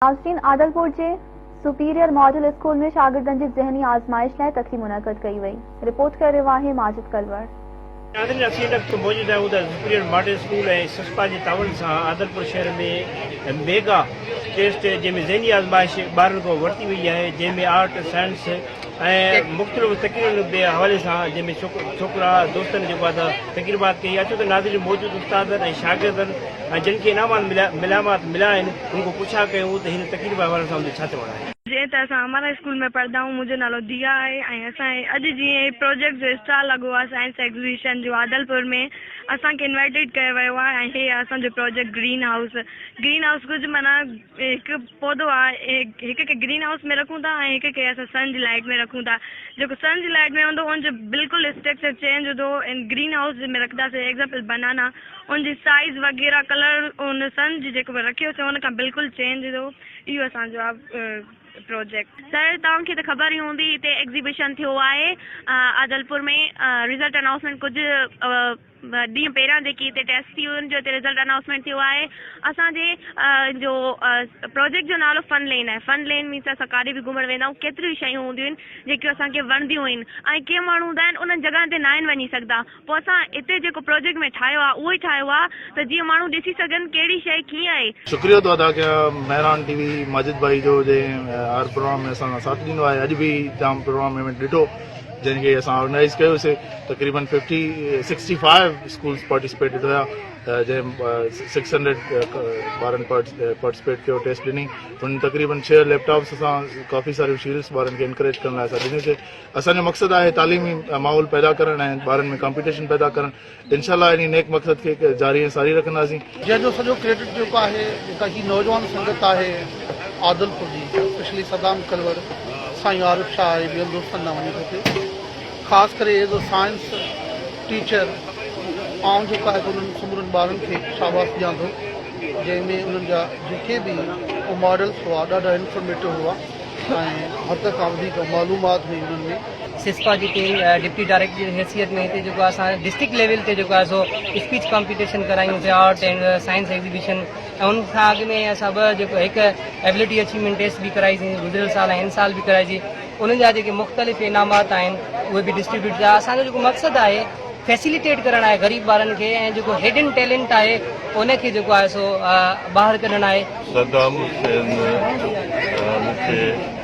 ناصرين عادلپور جي superior model school ۾ شاگردن جي ذهني آزمائش لاء تقريب منعقد ڪئي وئي. رپورٽ ڪري رهيو آهي ماجد ڪلوڙ. ناظرين اسين ان وقت موجود آهيون ته سپريئر ماڊل اسڪول ۽ سسپا جي تعاون سان عادلپور شهر ۾ ميگا ٽيسٽ جنهن ۾ ذهني آزمائش ٻارن کان ورتي وئي آهي جنهن ۾ آرٽ سائنس ۽ مختلف تقريرن جي حوالي سان جنهن ۾ ڇوڪرا دوستن جي بعد تقرير بات ڪئي اچو ته ناظرين موجود استادن ۽ شاگردن ۽ جن کي انعامات مليا ملامات مليا آهن ان کان پڇا ڪيون ته هن تقرير جي حوالي سان ان جو ڇا چوڻ آهي. جيئن ته اسان امارا اسڪول ۾ پڙهندا آهيون منهنجو نالو ديا آهي ۽ اسان هي اڄ جي هي پروجيڪٽ جو اسٽال لڳو آهي سائنس ايگزيبيشن جو عادل پور ۾ اسان کي انوائٽيڊ ڪيو ويو آهي ۽ هي آهي اسان جو project green house green house ڪجهه معنيٰ ۾ هڪ پودو آ هڪ کي گرين هائوس ۾ رکون ٿا ۽ هڪ کي اسان سن جي لائٽ ۾ رکون ٿا جيڪو سن جي لائٽ ۾ هوندو ان جو بلڪل اسٽريڪچر چينج هوندو ان گرين هائوس ۾ رکدا سي ايگزامپل بنانا ان جي سائيز وغيره ڪلر ان سن جي جيڪو رکيو سي ان کان بلڪل چينج هوندو اهو اسان جو پروجيڪٽ. سر توهان کي ته خبر ئي هوندي هتي ايگزيبشن ٿيو آهي عادلپور ۾ رزلٽ انائوسمينٽ ڪجهه ٻه ڏينهن پهريان جيڪي هتي ٽيسٽ ٿي ان جو هتي رزلٽ انائونسمينٽ ٿيو آهي اسان جي جو پروجيڪٽ جو نالو فن لين آهي فن لين مينس اسان ڪاڏي به گهمڻ ويندا آهيون ڪيتريون ئي شيون هونديون آهن جيڪيون اسان کي وڻنديون آهن ۽ ڪي ماڻهو هوندا آهن انهن جڳهن تي ناهن وڃي سگهندا پوء اسان هتي جيڪو پروجيڪٽ ۾ ٺاهيو آهي اهو ئي ٺاهيو آهي ته جيئن ماڻهو ڏسي سگهن ڪهڙي شيء ڪيئن آهي شڪريو ٿو ادا ڪيان مهراڻ ٽي وي ماجد ڀائي جو جنهن هر پروگرام ۾ اسان سان ساٿ ڏنو آهي اڄ به جام پروگرام ۾ ڏٺو جنهن کي اسان آرگنائيز ڪيوسي تقريبن fifty sixty five schools participated هيا جنهن سڪس هنڊريڊ ٻارن پارٽيسپيٽ ڪيو ٽيسٽ ڏني هن تقريبن ڇهه ليپ ٽاپس اسان ڪافي ساريون شيلس ٻارن کي انڪريج ڪرڻ لاء اسان ڏنيسي اسانجو مقصد آهي تعليمي ماحول پيدا ڪرڻ ۽ ٻارن ۾ ڪمپيٽيشن پيدا ڪرڻ انشاء الله انهي نيڪ مقصد کي جاري ۽ ساري رکنداسين. جنهن جو سڄو ڪريڊٽ جيڪو آهي جيڪا هي نوجوان سنگت آهي عادلپور جي اسپيشلي صدام ڪلوڙ سائين عارف شاهه ۽ ٻين دوستن ڏانهن وڃي ٿو ٿي خاص ڪري ايز اي سائنس ٽيچر آئون جيڪو آهي انهن سمورن ٻارن کي شاباس ڏيان ٿو جنهن ۾ انهن جا جيڪي به ماڊلس هئا ڏاڍا انفارميٽو هئا ۽ حد کان وڌيڪ معلومات هئي انهن ۾ سسپا جي ٽيم ڊپٽي ڊائريڪٽر جي حيثيت ۾ هتي جيڪو اسان ڊسٽرڪٽ ليول تي جيڪو آهي سو اسپيچ ڪمپيٽيشن ڪرايون پيا آرٽ اينڊ سائنس ايگزيبيشن ۽ ان کان اڳ ۾ اسان ٻه جيڪو هڪ ايبلٽي اچيومينٽ ٽيسٽ به ڪرائيسين گذريل سال ۽ هن سال به ڪرائجي ان جا جيڪي مختلف انعامات آهن اهي به ڊسٽريبيوٽ ٿيا اسان جو جيڪو مقصد آهي فيسيليٽيٽ ڪرڻ آهي غريب ٻارن کي ۽ جيڪو هيڊن ٽيلنٽ آهي ان کي جيڪو آهي سو ٻاهر ڪڍڻ آهي صدام حسين مون کي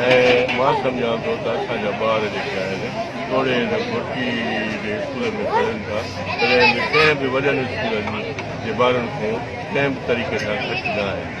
۽ مان سمجهان ٿو ته اسان جا ٻار جيڪي آهن توڙي هن گهٽي جي اسڪولن ۾ پڙهن ٿا تڏهن به ڪنهن به وڏن اسڪولن جي ٻارن کان ڪنهن به طريقي سان گهٽ نه آهن.